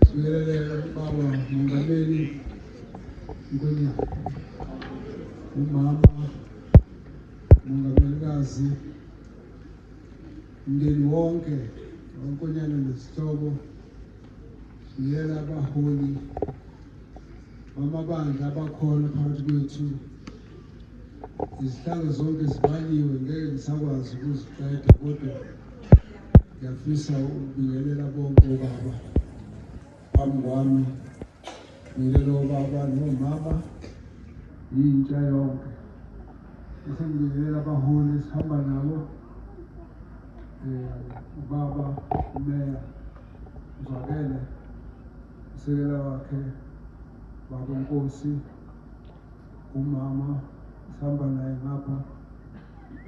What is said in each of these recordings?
Sibingelele ubaba Mongameli Nkonyana, umama Mongamelikazi, mndeni wonke wankonyana nezihlobo, sibiyela abaholi bamabandla abakhona phakathi kwethu Izihlalo zonke zibaliwe ngeke ngisakwazi ukuziqeda kodwa ngiyafisa ukubingelela bonke obaba phambi kwami ngilelo baba nomama yintsha yonke bese ngibingelela abaholi esihamba nabo um ubaba umeya uzwakele usekela wakhe baba nkosi Umama sihamba naye ngapha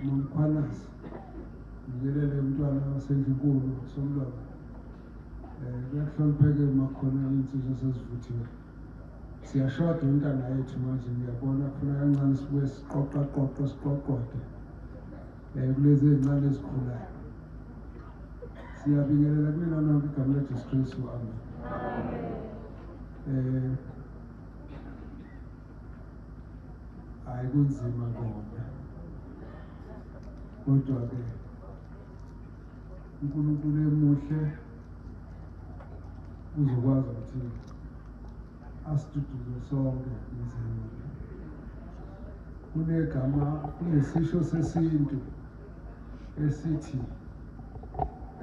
nomkhwanazi ngikelele umntwana wasendlunkulu somlwana um kuyahlonipheke makhona iy'nsizwa sezivuthiwe siyashoda intanga yethu manje ngiyabona kufuna kancane sibuye siqoqaqoqe siqoqode um kulezi ey'ncane ezikhulayo siyabingelela kulena nonke igama lejesu kristu amen um hayi kunzima kona kodwa-ke unkulunkulu emuhle uzokwazi ukuthi asiduduze sonke emzini kunegama kunesisho sesintu esithi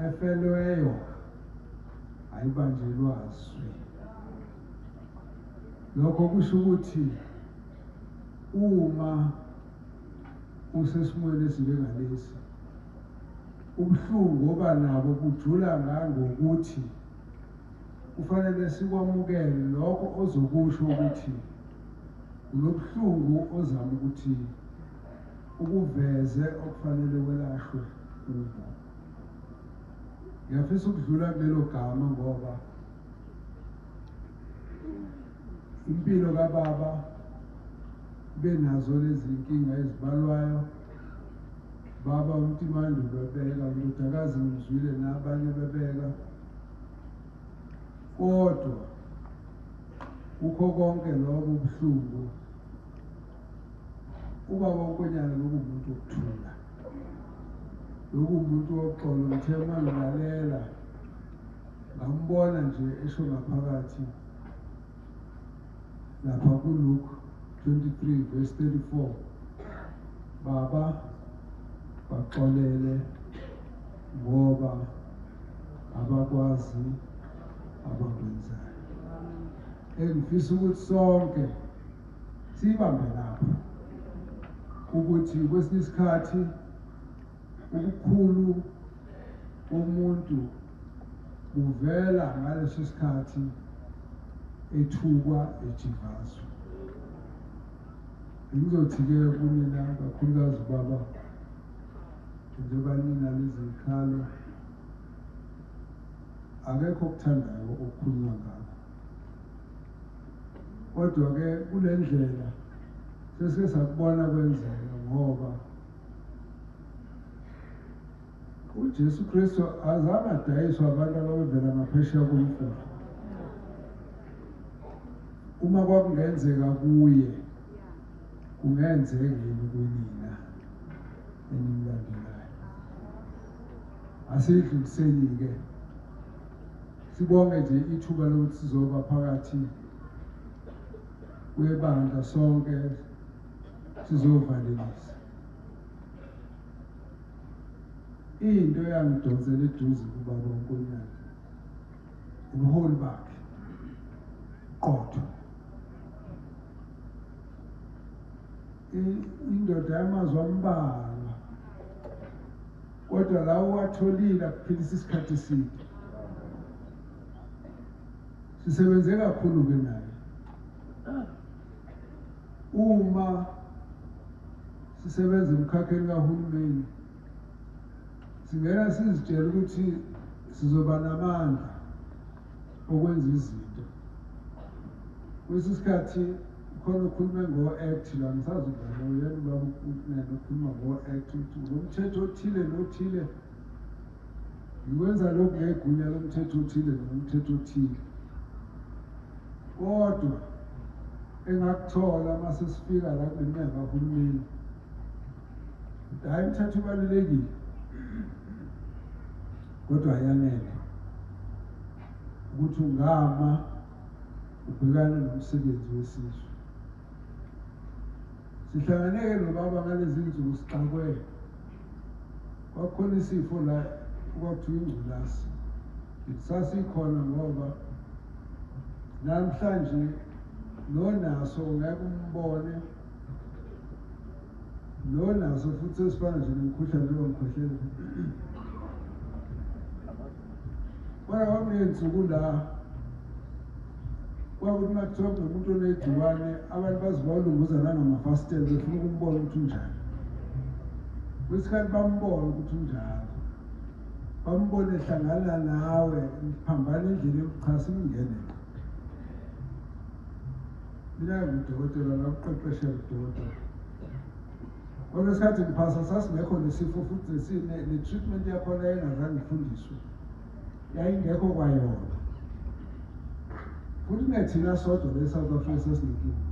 efelweyo ayibanjelwa zwi Lokho kusho ukuthi uma usesimweni esinjengalesi ubuhlungu oba nabo bujula ngangokuthi kufanele sikwamukele lokho ozokusho ukuthi unobuhlungu ozama ukuthi ukuveze okufanele welashwe kubo ngiyafisa ukudlula kulelo gama ngoba impilo kababa benazo lezi nkinga ezibalwayo baba umtimandi bebeka ndodakazi ngizwile nabanye bebeka kodwa kukho konke lobo buhlungu ubaba unkonyana loku muntu okuthula loku muntu woxolo ngithe uma ngilalela Ngambona nje esho ngaphakathi lapha kuLuke 23 verse 34 baba baxolele ngoba abakwazi abakwenzayo engifisa ukuthi sonke sibambe lapha ukuthi kwesinye isikhathi Ubukhulu bomuntu buvela ngaleso sikhathi ethukwa ejivazwa. Bengizothi-ke kunina kakhulukazi baba njengoba nina lezikhalo akekho okuthandayo okukhulunywa ngakho kodwa-ke kule ndlela sesike sakubona kwenzeka ngoba uJesu Kristu azange adayiswe abantu ababevela ngaphesheya komfula uma kwakungenzeka kuye kungenzeka yini kunina enimlandelayo asidluliseni-ke sibonge nje ithuba lokuthi sizoba phakathi kwebandla sonke sizovalelisa into eyangidonsela eduze kubaba uNkonyane ubuholi bakhe qotho indoda yamazwi ambalwa kodwa lawo watholile akuphilisa isikhathi eside sisebenze kakhulu-ke naye Uma sisebenza emkhakheni kahulumeni singena sizitshela ukuthi sizoba namandla okwenza izinto kwesinye isikhathi khona ukhulume ngo-act la ngisazi ubaba uyena ubaba ukunene ukhuluma ngo-act ukuthi ngomthetho othile nothile Ngikwenza lokhu ngegunya lomthetho othile noma umthetho othile. Kodwa engakuthola uma sesifika la kuneminyango kahulumeni, hhayi umthetho ubalulekile kodwa ayanele ukuthi ungama ubhekane nomsebenzi wesizwe. Sihlanganeke nobaba ngalezi nsuku sixakwe kwakhona isifo la okwakuthiwa ingculazi sasikhona ngoba namhlanje nonaso ngeke umbone nonaso futhi esifana nje nomkhuhlane lomkhohlelo Kwaya kwakuney'nsuku la kwakuthi uma kuthiwa kunomuntu onegciwane abantu bazibawulunguza nangamafasitela befuna ukumbona ukuthi unjani kwesikhathi bambona ukuthi unjalo bambone hlangana nawe phambana endlini yokuchasa imngene mina ngudokotela ngakuqeqeshe udokotela Kodwa isikhathi ngiphasa sasingekho nesifo futhi ne-treatment yakhona engazange ifundiswe yayingekho kwayona futhi nethina sodwa le-south africa sesinenkinga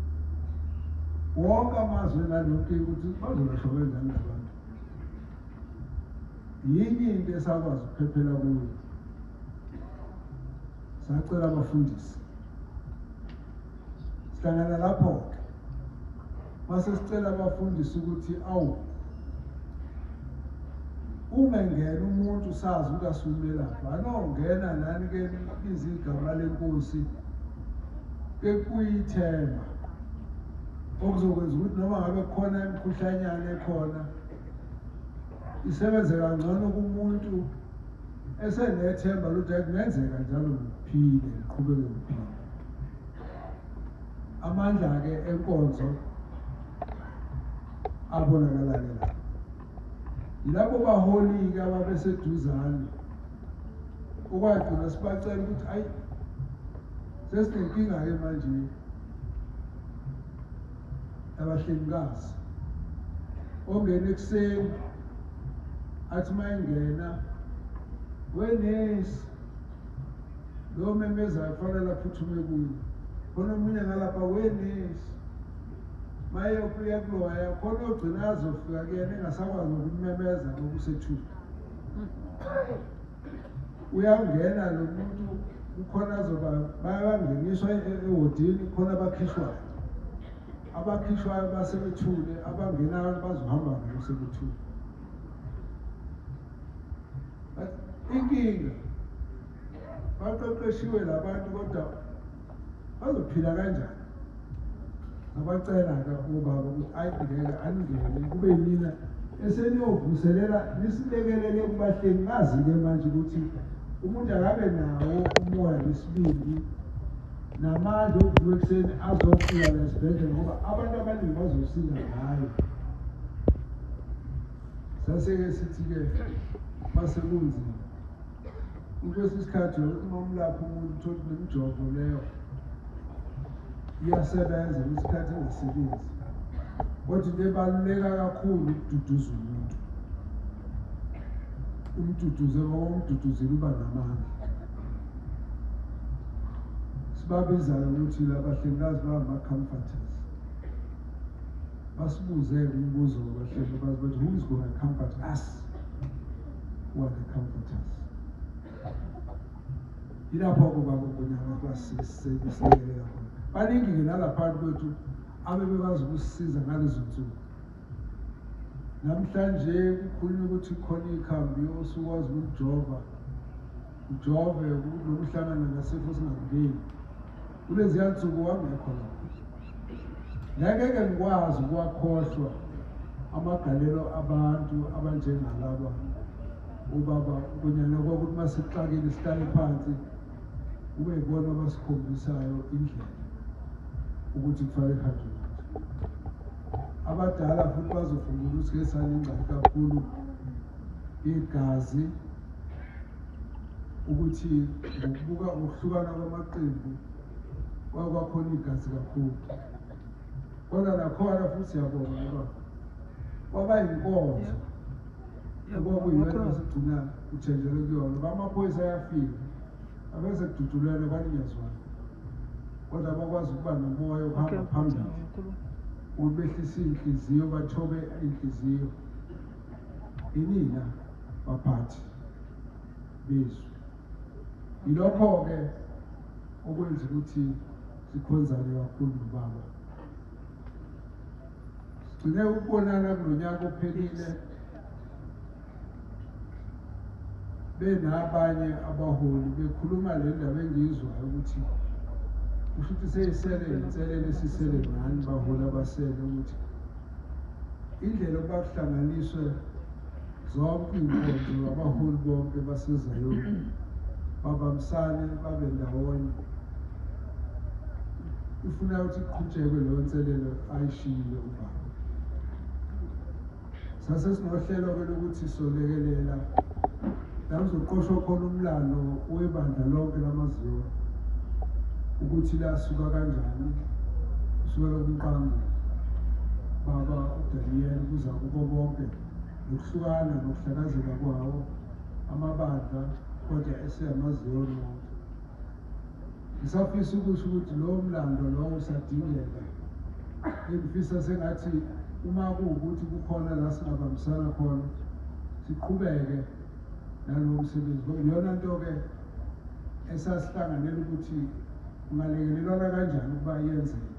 wonke amazwe nalonkinga ukuthi bazolahloko enjani nabantu yinye into esakwazi ukuphephela kuyo sacela abafundisi sihlangana lapho-ke mase sicela abafundisi ukuthi awu uma ngena umuntu sazi ukuthi asumelaphi anongena nani ke libiza igama lenkosi bekuyithemba okuzokwenza ukuthi noma ngabe khona imikhuhlanyana ekhona isebenze kangcono kumuntu esenethemba lokuthi kungenzeka njalo ngiphile ngiqhubeke ngiphile amandla-ke enkonzo abonakalake lapho yilabo baholi-ke ababeseduzane okwagcina sibacela ukuthi ayi sesinenkinga-ke manje abahlengikazi ongena ekuseni athi uma engena wenesi lo memezayo kufanele aphuthume kuyo khona omunye ngalapha wenesi maye ubuya kuloya khona ogcina azofika kuyena engasakwazi nokumemeza ngokusethuka uyangena nomuntu kukhona azoba bayabangeniswa e-, e-, ewodini khona abakhishwayo abakhishwayo basebethule abangenayo bazohamba ngabo sebethule inkinga baqeqeshiwe labantu kodwa bazophila kanjani abacela-ke ubaba ukuthi ayibhekele aningene kube yimina eseniyovuselela nisilekelele kubahleli ngazi-ke manje ukuthi umuntu akabe nawo umoya nesibindi namandla okuvuka ekuseni azofika la esibhedlela ngoba abantu abaningi bazosinda ngayo saseke sithi-ke masekunzima Kwesinye isikhathi uma umlapha umuntu uthole nemijovo leyo iyasebenza kwesikhathi engasebenzi kodwa into ebaluleka kakhulu ukududuza umuntu umduduze ngoba umduduzile uba namandla sibabizayo ukuthi labahlengikazi bangama-comforters basibuze umbuzo wabahlengikazi bathi who is gonna comfort us wanga comforters ilapho kuba kugunyama kwasisekuselelela khona baningi-ke nalaphantu kwethu abebekwazi ukusisiza ngalezo nsuku namhlanje kukhulunywa ukuthi khona ikhambi osukwazi ukujova ujove nokuhlangana nasifo singakungeni Kuleziya nsuku wangekho lapho. Ngeke ngikwazi ukuwakhohlwa amagalelo abantu abanjengalaba ubaba kunyana kwakuthi uma sixakile sihlale phansi kube yibona abasikhombisayo indlela ukuthi kufanele kuhanjwe abadala futhi bazofungula ukuthi ke sanengxaki kakhulu igazi ukuthi ngokubuka ngokuhlukana kwamaqembu kwake kwakhona igazi kakhulu kodwa nakhona futhi siyabonga ngoba kwaba yinkonzo okwakuyiyona esigcina kuthenjelwe kuyona uba amaphoyisa ayafika abese kududulelwe kwaninyazwana kodwa bakwazi ukuba nomoya ukuhamba phambili ukuthi behlise iy'nhliziyo bathobe iy'nhliziyo Inina baphathi bezwi. Yilokho-ke okwenza ukuthi sikhonzane kakhulu nobaba. Sigcine ukubonana kulo nyaka ophelile benabanye abaholi bekhuluma le ndaba engiyizwayo ukuthi kusho ukuthi seyisele inselele esisele ngani baholi abasele ukuthi Indlela ukuba kuhlanganiswe zonke iy'nkonzo ngabaholi bonke baseZayoni babambisane babe ndawonye ifuna ukuthi kuqhutshekwe leyo nselelo ayishiyile ubaba sase sinohlelo-ke lokuthi solekelela la kuzoqoshwa khona umlando webandla lonke lamaZion ukuthi lasuka kanjani kusukela kumqambi baba uDaniel kuza kubo bonke nokuhlukana nokuhlakazeka kwawo amabandla kodwa eseyamaZion wonke Ngisafisa ukusho ukuthi lowo mlando lowo usadingeka engifisa sengathi uma kuwukuthi kukhona la singabambisana khona siqhubeke nalowo msebenzi iyona nto-ke esasihlanganela ukuthi ungalekelelwana kanjani ukuba yenzeke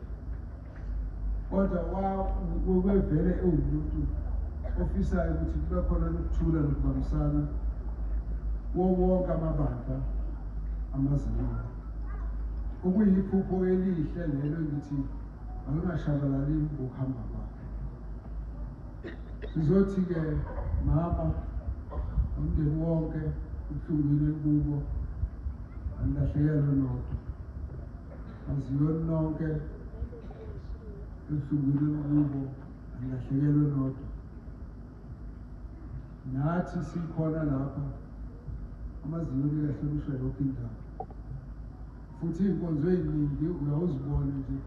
kodwa wawevele ewumuntu ofisayo ukuthi kube khona nokuthula nokubambisana kuwo wonke amabandla amazinga okuyiphupho elihle lelo ngithi angingashabalali ngokuhamba kwakhe sizothi-ke mama umndeni wonke ubuhlungwini kubo angilahlekelwe nodwa Aziyoni nonke ebuhlungwini olukubo alahlekelwe nodwa nathi sikhona lapha amazinyo likahlonishwa yonke indawo futhi iy'nkonzo ey'ningi uyawuzibone nje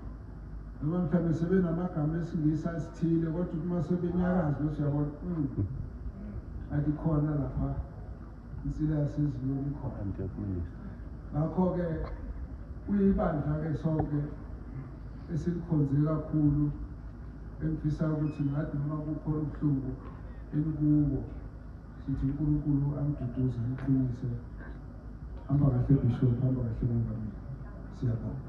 noma mhlawumbe sebenamagama esingisa esithile kodwa uma sebenyakazi bese uyabona hmm, athi khona lapha Insilazi iziyoni khona. Ngakho-ke kuyibandla-ke sonke esilikhonze kakhulu engifisa ukuthi ngathi noma kukhona ubuhlungu enikuwo sithi uNkulunkulu amduduze amqinise hamba kahle bishop hamba kahle mongameli siyabonga